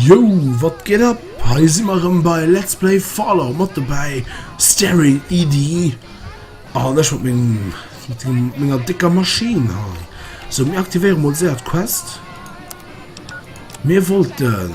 Yo, wat geht ab? Hei si mer ëm bei Let's Play Fallout mat dobäi Staring ED an ech mat menger dicker Maschine ha. So mir aktivéiere mod séiert Quest. Mir wollten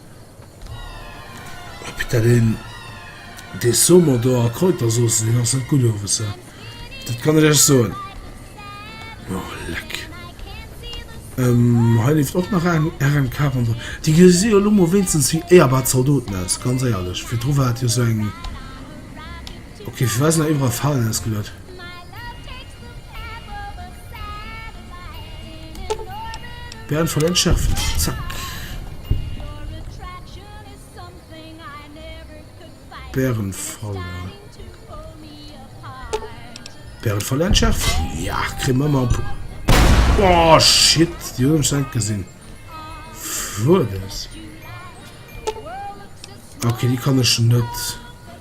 Dat een dee Somo do a Kräutersauce deen ass net gutt owes, dat kann ech Iech soen. Oh leck. Ähm, hei leeft och nach eng RMK ronderem. Déi gesi jo elo mol wéinstens wéi éierbar Zaldoten aus, ganz éierlech. Virdru war et jo sou eng... Ok fir was nach iwwerall Falen ausgelot? Bären voll entschärfen. Zack. Bären voll. Bären voll entschärfen. Ja, kriegen wir mal. Oh shit, die haben schon gesehen. Wo das? Okay, die kann ich nicht.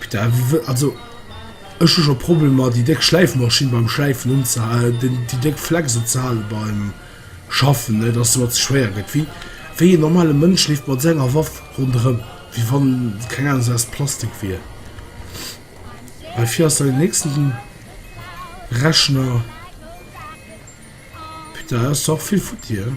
Putain, wie wëll, also ech hu scho Problemer déi déck Schläifmaschinn beim Schläifen unzehalen, den déi déck Flex unzehalen beim Schaffen, net dass se mer ze schwéier gëtt. Wéi wéi een normale Mënsch leeft mat senger Waff ronderëm, wéi wann se, keng Ahnung, se aus Plastik wier. Well fir ass da den nächsten Rechner. Putain, do ass och vill futti, hein.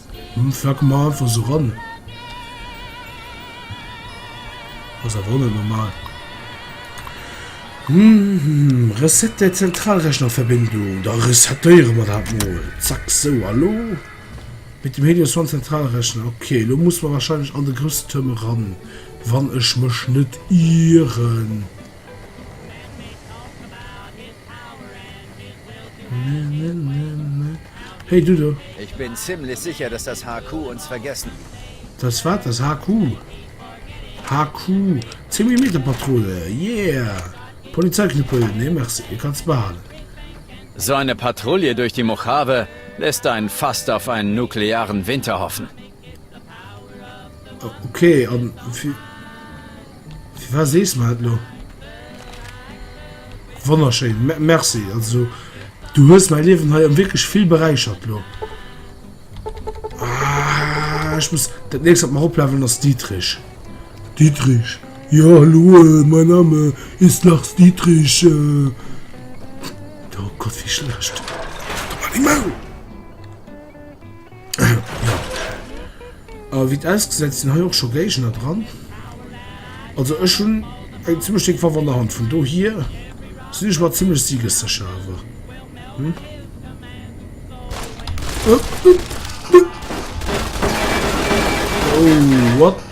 Hm flack mer einfach esou ran. Ass awer och net normal. Hm reset der Zentralrechnerverbindung. Da resetéiere mer dat mol. Zack sou a lo mit dem Helios One Zentralrechner. Ok lo muss mer wahrscheinlech an de grousse Tuerm eran, wann ech mech net ieren. Hey du do! Ich bin ziemlich sicher, dass das HQ uns vergessen. Dass wat? Dass HQ? HQ? 10 Millimeter Patrulle, yeah! Polizeiknüppel, nee merci, dee kanns de behalen. So eine Patrouille durch die Mojave lässt einen fast auf einen nuklearen Winter hoffen. Okay, an fir firwat sees de mer dat elo? Wonnerschéin, merci. Also du hues mei Liewen hei an wierklech vill beräichert elo. Ah, ech muss dat nächst wat mer oplevelen ass Dietrich. Dietrich, jo hallo, euh, mein Name ist Lars Dietrich. Euh. Oh Gott, wie schlecht. Hal deng Maul! Ja. A wéi et ausgesäit sinn hei och scho Géigner dran. Also ech hunn eng zimmlech déck Waff an der Hand, vun dohier sinn ech mer zimmlech siegessécher awer. Hm. Oh, what?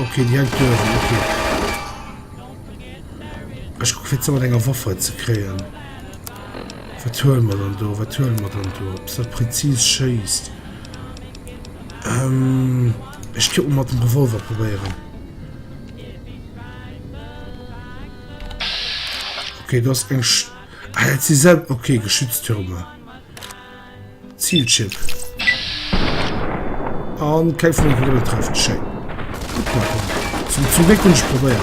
Okay, déi hängt do ewell, okay. Ech kuck fir ze mat enger Waffe ze kréien. Wat huele mer dann do? Wat huele mer dann do? Eppes dat präzis schéisst. Ähm, ech kuck mat dem Revolver probéieren. Okay, du hast eng... Sch ah, sie selbst... Okay, Geschütztürme. Zielchip. An keng vun den Kugele trefft. Schéin. Guck mal, komm. Zum, zum Glück hun ich probéiert.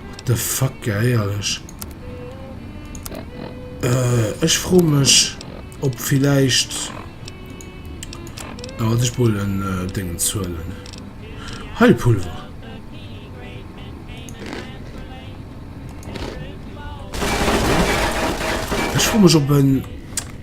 What the fuck, eierlech. Äh, ich froh mich, ob vielleicht... Da wollte ich wohl ein äh, Ding zuhlen. Heilpulver. Ich froh mich, ob ein...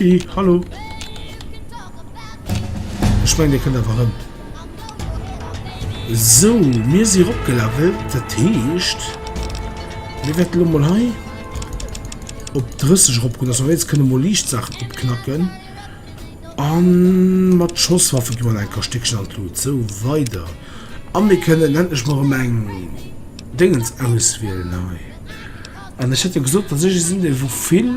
I, Hallo! Ech mengen dir kënnt einfach rëm. Sou, mir si ropgelevelt, dat heescht mir wäerte lo mol hei op 30 ropgoen, dass mer wéinst kënne mol liicht Saachen opknacken. An mat Schosswaffe gi mer nach eng Kach Stéckchen an d'Lut. Sou, weider. A mir kënnen endlech mol erëm eng Déngens auswielen hei. An ech hätt jo gesot, dass ech ee sinn, dee wou vill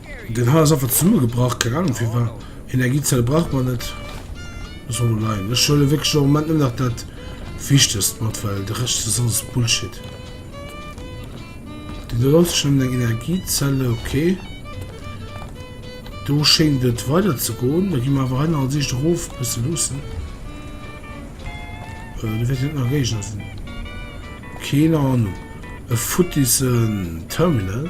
Den Hall ass einfach zesummegebrach, keng Ahnung firwat. Energiezelle brauch mer net, loosse mer do leien. Ech huelen wierklech am Moment nëmmen nach dat Wichtegst mat, well de Rescht ass alles Bullshit. Deen do ass schonn eng Energiezelle, ok. Do schéint et weider ze goen. Da gi mer awer hei nach als Eescht erof e bësse luussen. Do wäert jo net nach e Géigner sinn. Keen Ahnung. E futtis Terminal.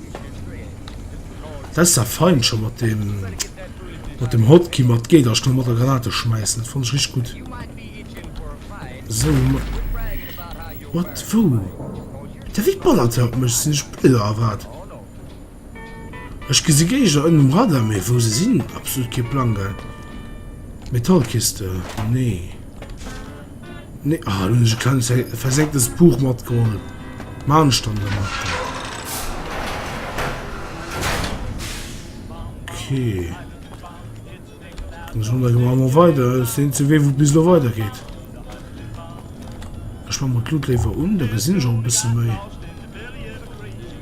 Dat ass der fein scho mat dem mat dem Hotkey mat geet ass mat der Granate schmeissen fan ech rich gutt esou wat wou dat wéi ballert haut mech sinn ech blier a wat ech gesi Géigner ënnen um Radar mee wou se sinn absolut kee Plang Metallkiste nee. Nee, ah, do hun ech e klenges versecktes Buch matgeholl. Maan ech dann dermat. Okay. Dann schon da gema mo weiter. Sinn ze wee wou bis lo weiter geht. Ech ma mo d'Luut léiwer un, da gesinn ech och e bësse méi.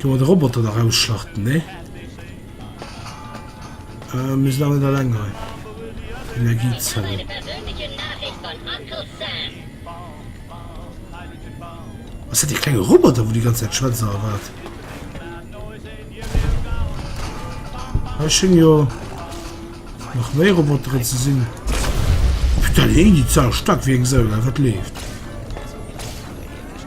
Kann man de Roboter da rausschlachten, ne? Äh, mir sinn awer net alleng hei. Energiezellen. Was hat die kleine Roboter, wo die ganze Zeit Schwänzer erwartet? Da schön ja noch mehr Roboter zu sehen. Putain, die Zahl stark wie ein Säuler, was lebt.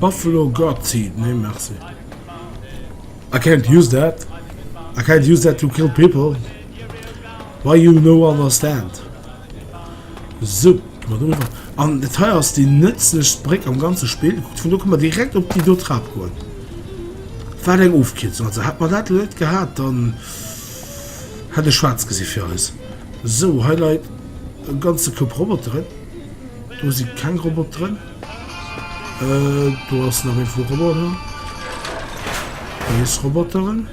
Buffalo God Seed nee merci. I can't use that I can't use that to kill people why you no understand Soup mat uewer an et hei ass déi nëtzlechst Bréck am ganze Spill kuckt vun do kënne mer direkt op déi do Trap goen wat eng Ofkierzung also hätt mer dat elo net gehat dann hätt ech schwaarz gesi fir eis esou hei leit e ganze Koup Roboteren do si keng Roboteren. Äh, do ass nach e vu Roboter. Nees Roboteren.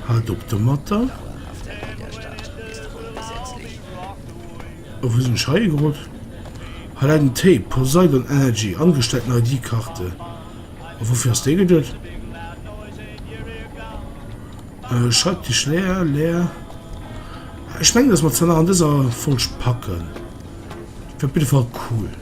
Halt op de Matter. Wou sinn ech hei gerot? Hei läit en Tape, Poseidon Energy, angesteckt no ID-Karte. A woufir ass dee geduet? Äh, Schreibtisch leer, leer. Ech mengen, dass mer zwar nach an dëser Folg packen. Dat wier op jidde Fall cool.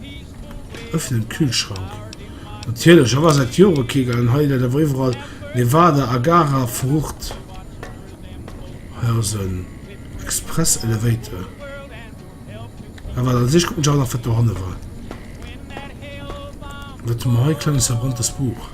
Öffnen Kühlschrank. Natierlech, ech war seit Joere kee gaangen. Hei läit awer iwwerall Nevada a Gara Frucht. Hei ass en Express Elevator. Mä wat an sech kuckt mech awer nach wat dohanne war. Wat hu mer hei? Klenges verbranntes Buch.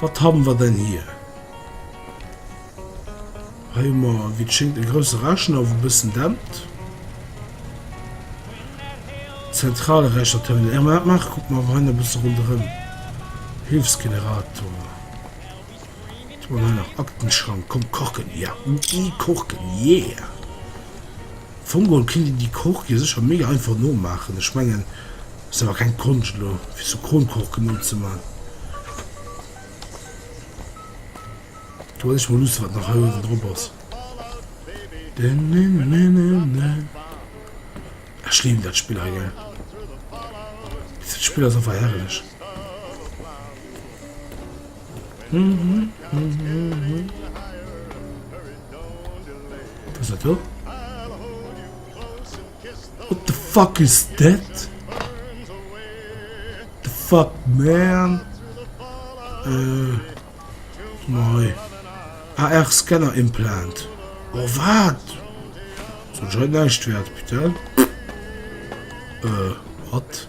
Wat haben wir denn hier? Hei hu mer, wéi et schéngt, e grousse Rechner wou bëssen dämpt. Zentrale Rechner Terminal. Ech mal machen, guck mal hei e bësse ronderëm. Hilfsgenerator. Tun hei nach Aktenschrank. Komm kochen, ja. I kochen, yeah. Vongol kinnt een déi Korkje sécher méi einfach nomaachen. Ech mengen, et ass awer keng Konscht elo fir esou Kronkorken nozeman. Do well ech mol luussen wat nach hei uewen drop ass. Denenenene. Ech liwen dat Spill hei gell. Dest Spill ass einfach herrlech. What the fuck is that? The fuck man? Äh, moi. AR-Scanner Implant. Oh, wat? So schon halt näischt wert, bitte. Äh, wat?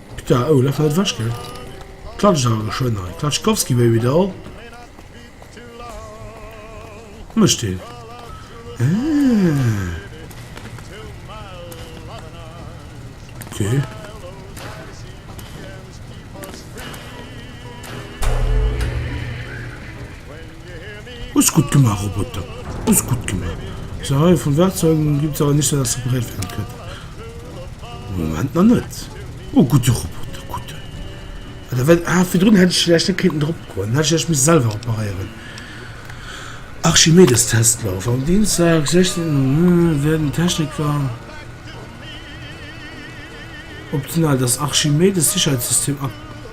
Putain, oh dat war net ewech gell. Klatscht awer geschwënn hei. Klatschkowski baby doll. Mëscht deen. Ah. Okay. Hues gudd gemaach Roboter, hues gudd gemaach. Sa hei vun Wertzeugen un ginn et awer nichts dass repariert werden könnte. Am Moment nach net. O gudde Roboter, gudde. Ah da well ah virdrun hätt ech villäicht net kéinten drop goen, dann hätt ech villäicht misse selwer reparéieren. Archimedestestlauf am Dienstag 16 Uhr werden Techniker optional das Archimedes-Sicherheitssystem ab.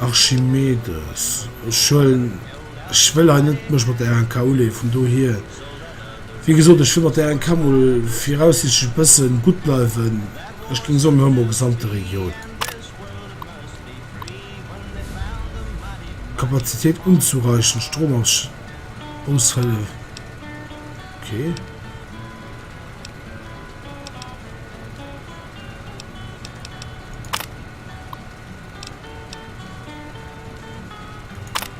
Archimedes, ech huelen, ech wëll hei net mech mat der RNK uleeën, vun dohier, wéi gesot, ech wëll mat der RNK mol viraussiichtlech e bësse gutt bleiwen. Ech géing soen, mir hu mol gesamte Regioun Kapazitéit unzureichend Stromausfäll, okay.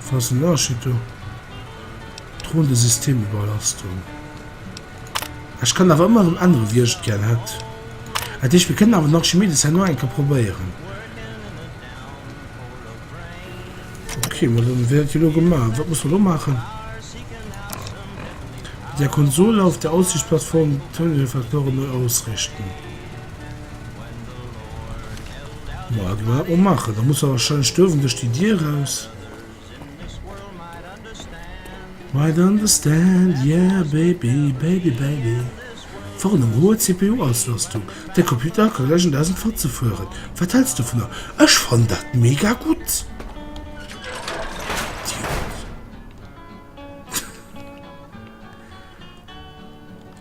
Falls den Archito droen de Systemüberlastung. Ech kann awer ëmmer en anere Wiercht gär hätt. Dat heescht, mir kënnen awer den Archimedes hei no eng Kéier probéieren. Okay, ma dann wär dat jo elo gemaach. Wat muss mer elo maachen? Mit der Konsole auf der Aussichtsplattform d'Terminalfaktoren neu ausrichten. Ma et war o mache, da muss er wahrscheinlech duerwen duerch déi Dier raus. Might understand, yeah baby, baby baby. Warnung, hoer CPU-Auslastung, däi Computer ka gläich an dausend Fotze fueren. Wat häls s dovunner? Ech fannen dat mega gutt! Idiot.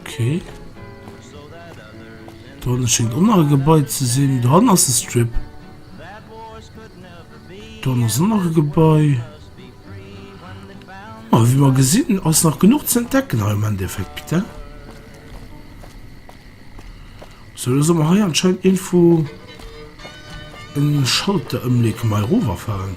Okay. Dann schenkt och nach e Gebai ze sinn. Dran ass e Strip. Dann ass nach e Gebai. Oh, ah, wie man gesinn ass nach genug ze entdecken ha im Endeffekt bitte. So man ha anscheinend Info en Schalter ëmleg mei Roverfahren.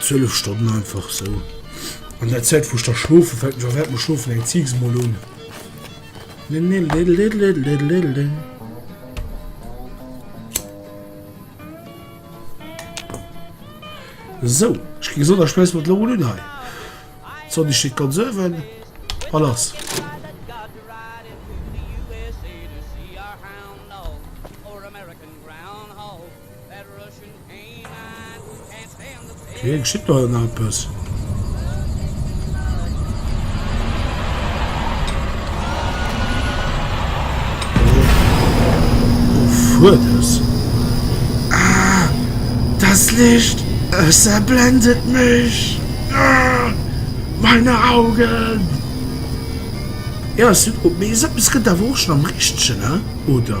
12 Stonnen einfach sou an der Zäit wou da schlofe fält mech während dem schlofen eng Ziig mol un. Sou ech gi gesot a schmeiss mol d'Lorel un hei. D'Sonn déi steet ganz uewen a lass. Hei geschitt nach ëmmer eppes. Ah! Dest Licht! Es erblendet mech! Meine Augen! Jo, es gëtt awer och schonn am Richtegen, oder?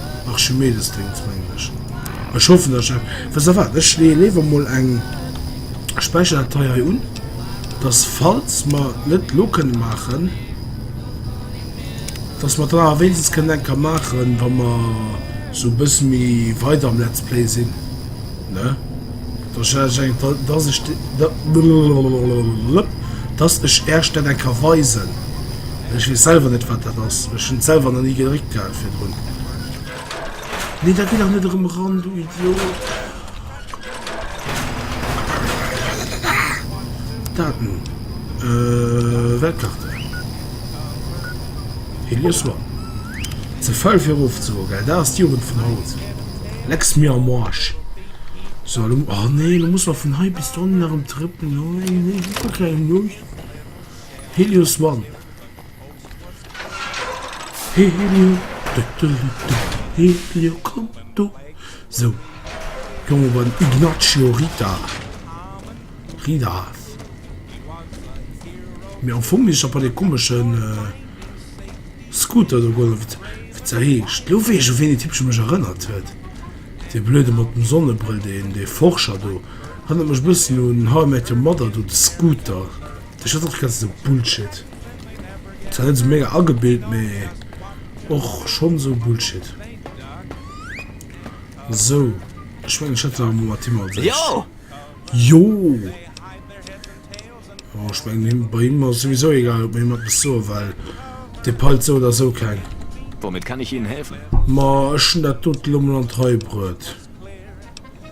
Archimedesdéngs mengen ech. Ech hoffen dass ech dat. Wësst der wat, ech leeë léiwer mol eng Späicherdatei hei un, dass falls mer et net elo kënne maachen, dass mer et dann awer wéinstens kënnen eng Kéier maachen, wa mer esou e bësse méi weider am Let's Play sinn, ne? Dass ech ech dat, dass ech dat, dass ech Ärch dat eng Kéier weisen. Ech weess selwer net wat dat ass. Ech hunn selwer nach ni geréckt gehat virdrun. Nee da gitt dach net erëm eran du Idiot. Dat nun Weltkarten. Hir Lies war ze faul fir erof ze goen gell. Dat ass d'Jugend vun haut. Lecks mir am Arsch. So lo, oh nee lo musse mer vun hei bis dohinner erëm trëppelen. Oh nee, nee super kleng Jugend. Helios One Helio Dëttelittel Helio komm do Sou Jonge beim Ignazio Rita Rita Mee am Fong is op an e komeschen äh, Scooter do goen wéi wéi se heescht. Lo weess ech u wien dee Typche mech erënnert huet, dee Blöde mat dem Sonnebrëll, deen dee Forscher do. Erënnert mech e bëssen un How I Met Your Mother do de Scooter. Dech hat och ganz so Bullshit. Zwar net so mega agebild, me och schon so Bullshit. So ich mein, ich hatte mal Team als ich. Jo! Jo! Oh, ich mein, bei ihm war sowieso egal, ob mir jemand bis so, weil der peilt so oder so kein. Womit kann ich Ihnen helfen? Ma, ich schon dat dote lo mal an d'Rei bruet.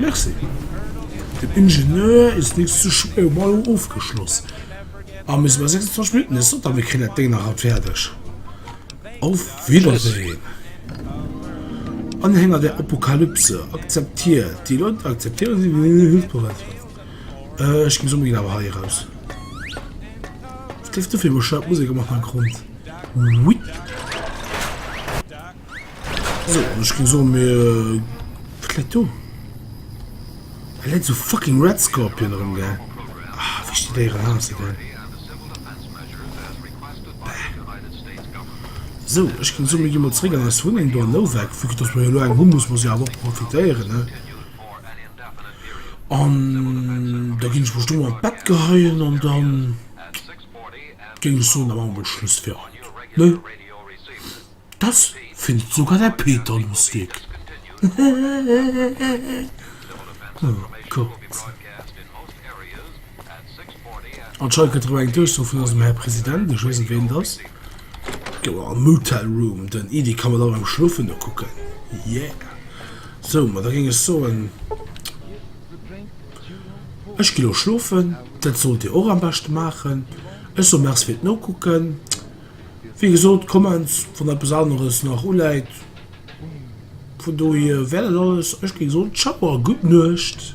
Merci. Den Ingenieur ist nicht zu schwer um Elo ofgeschloss a mir si bei 26 Minutten. Ech sot der, mir kréien dat Déng nach haut fäerdeg. Auf Wiedersehen, Anhänger der Apokalypse, akzeptiert déi Leit, akzeptieren déi Leit, déi hëlfsbereit sinn. Ech ginn d'Summe ginn awer hei eraus. Wat leeft do fir bescheuert Musek am Hannergrond? Wuipp. So, ech ging soen, mee wat läit do? Hei läit esou fucking Red Scorpion erëm, gell? Ah, wéi ech déi Déieren haasse, gell? Bäh. So, ech ging soen, mir gi mol zréck an eis Wunneng do an Novak, vu que dass mer jo elo eng hu muss mer se jo awer och profitéieren, ne? An da ging ech mech do an d'Bett geheien an dann ging ech soen, da maache mer Schluss fir haut, ne? Das findet sogar der Peter lustig. oh Gott. Anscheinend gëtt eng Duerchsoo vun eisem Här President, ech weess net ween et ass. Goer am Motel Room, den Idi kann mer da beim Schlofen nokucken. Yeah. So, ma da géing ech soen, ech ginn elo schlofen, dat sollt Dir och am beschte maachen. Ech soe Merci fir d'Nokucken. Wéi gesot, d'Commons, wann eppes aneres nach uläit. Vun dohier wär dat alles. Ech géing soen, Ciao a gutt Nuecht.